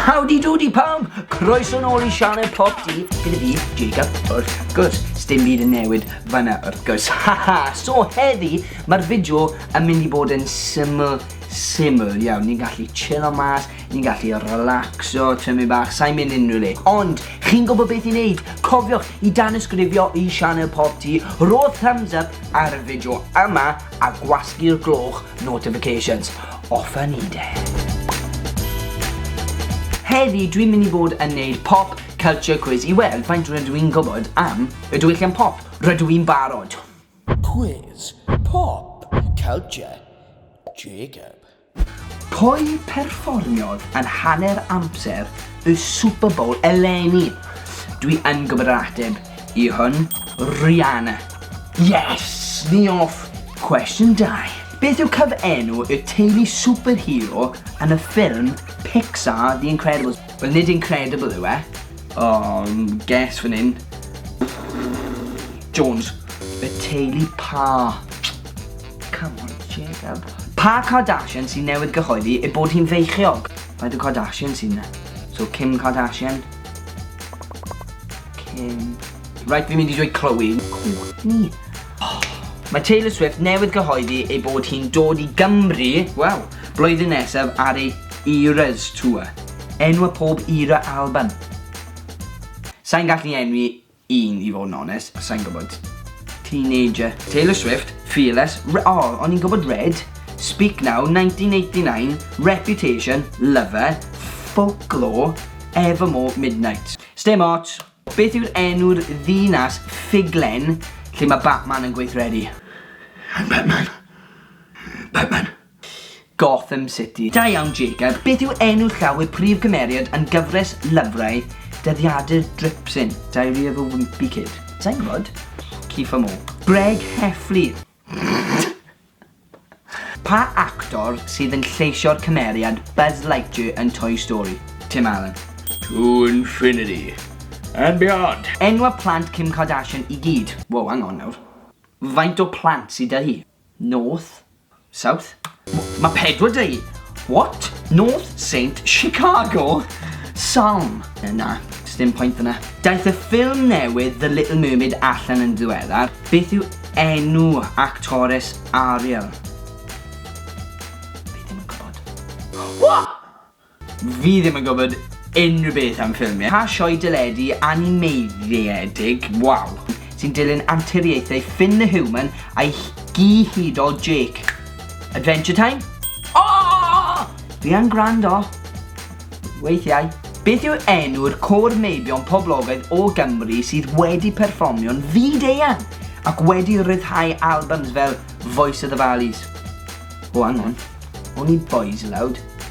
Howdy doody pawb! Croeso nôl i sianel Pop D gyda fi, Jacob, wrth gwrs. Sdim byd yn newid fanna, wrth gwrs. Haha! so heddi, mae'r fideo yn mynd i bod yn syml, syml iawn. Ni'n gallu chillo mas, ni'n gallu relaxo, tymu bach, sa'n mynd unrhyw le. Ond, chi'n gwybod beth i wneud? Cofiwch i dan ysgrifio i sianel Pop D, rho thumbs up ar y fideo yma, a gwasgu'r gloch notifications off a ni de. Heddi dwi'n mynd i bod yn neud pop culture quiz i weld faint rydw i'n gwybod am y diwylliant pop. Rydw i'n barod! Quiz pop culture Jacob. Pwy perfformiodd yn hanner amser y Super Bowl eleni? Dwi yn gwybod yr ateb i hwn, Rihanna. Yes! Ni off! Cwestiwn 2. Beth yw cyfenw y teulu superhero yn y ffilm Pixar The Incredibles? Wel, nid Incredible yw e. O, guess fan hyn. Jones. Y teulu pa? Come on, Jacob. Pa Kardashian sy'n newydd gyhoeddi ei bod hi'n feichiog? Mae dy Kardashian sy'n ne. So, Kim Kardashian. Kim. Right, fi'n mynd i dweud Chloe. Courtney. Oh. Mae Taylor Swift newydd gyhoeddi ei bod hi'n dod i Gymru, wel, blwyddyn nesaf ar ei Eras Tour. Enw y pob era album. Sa'n gallu enwi Un i fod yn onest, sai'n gwybod. Teenager. Taylor Swift, Fearless, Re o, oh, o'n i'n gwybod Red, Speak Now, 1989, Reputation, Lover, Folklore, Evermore, Midnight. Stem ots, beth yw'r enw'r ddinas ffuglen lle mae Batman yn gweithredu? I'm Batman. Batman. Gotham City. Da iawn Jacob, beth yw enw llaw y prif gymeriad yn gyfres lyfrau dyddiadur Dripsyn, Diary of a Wimpy Kid? Sai'n gwybod. Kiefer Moore. Greg Heffley. Pa actor sydd yn lleisio'r cymeriad Buzz Lightyear yn Toy Story? Tim Allen. To infinity and beyond. Enwa plant Kim Kardashian i gyd. Wow, hang on nawr. Faint o plant sy 'da hi? North? South? Mae pedwar dweud, what? North Saint Chicago? Salm? Na, sdim pwynt yna. Daeth y ffilm newydd The Little Mermaid allan yn ddiweddar. Beth yw enw actores Ariel? Fi ddim yn gwybod. What? Fi ddim yn gwybod unrhyw beth am ffilmiau. Pa sioe deledu animeiddiedig, waw, sy'n dilyn anturiaethau Finn the Human a'i gyhudol Jake? Adventure Time? O! Fi yn gwrando. Weithiau. Beth yw enw'r côr meibion poblogaidd o Gymru sydd wedi perfformio'n fyd-eang ac wedi rhyddhau albums fel Voice of the Valleys? O, hang on. Only Boys Aloud.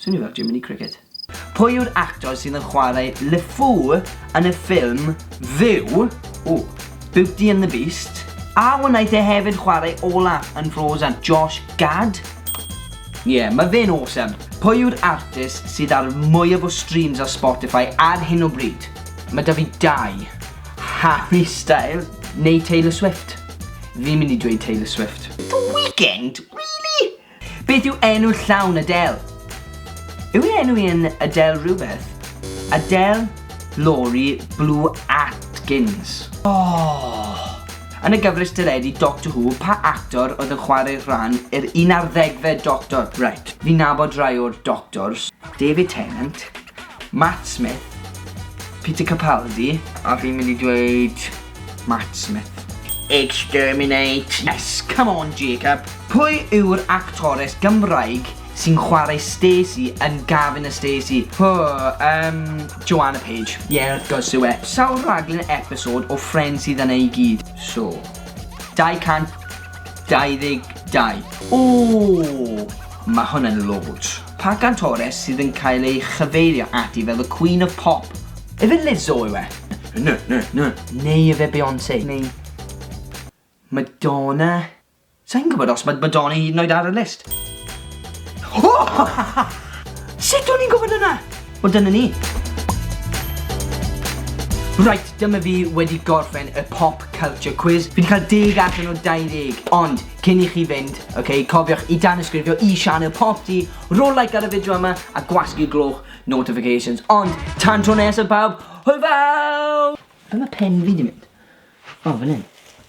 Swnio fel Jiminy Cricket. Pwy yw'r actor sydd yn chwarae LeFou yn y ffilm fyw, ooh, Beauty and the Beast, a wnaeth e hefyd chwarae Olaf yn Frozen? Josh Gad? Ie, yeah, mae fe'n awesome. Pwy yw'r artist sydd ar mwyaf o streams ar Spotify ar hyn o bryd? Mae da fi dau. Harry Styles neu Taylor Swift. Fi'n mynd i dweud Taylor Swift. The Weeknd? Really? Beth yw enw llawn Adele? Yw ei enw hi yn Adele rhywbeth? Adele Laurie Blue Atkins. Oh! Yn y gyfres teledu Doctor Who, pa actor oedd yn chwarae rhan yr un ar ddegfed Doctor? Right, fi'n nabod rai o'r Doctors. David Tennant. Matt Smith, Peter Capaldi, a fi'n mynd i dweud Matt Smith. Exterminate! Yes, come on Jacob! Pwy yw'r actores Gymraeg sy'n chwarae Stacey yn Gavin a Stacey? Hw, um, Joanna Page. Ie, yeah, wrth gwrs yw e. Sawl rhaglen episod o Friends sydd yna i gyd? So, 222. O, mae hwn yn loads. Pa gantores sydd yn cael ei chyfeirio ati fel y Queen of Pop? Efe Lizzo yw e? Na, na, na. Neu efe Beyonce? Neu Madonna? Sai'n gwybod os mae Madonna hyd yn oed ar y list. O! Sut o'n i'n gwybod yna? Wel, dyna ni. Right, dyma fi wedi gorffen y pop culture quiz. Fi wedi cael deg allan o 20, ond Cyn i chi fynd, ok, cofiwch i danysgrifio i sianel Popty, rhoi like ar y fideo yma a gwasgu gloch notifications. Ond, tan tro nesaf bawb, hwyl fawr! Ble mae pen fi di mynd? O, fan hyn.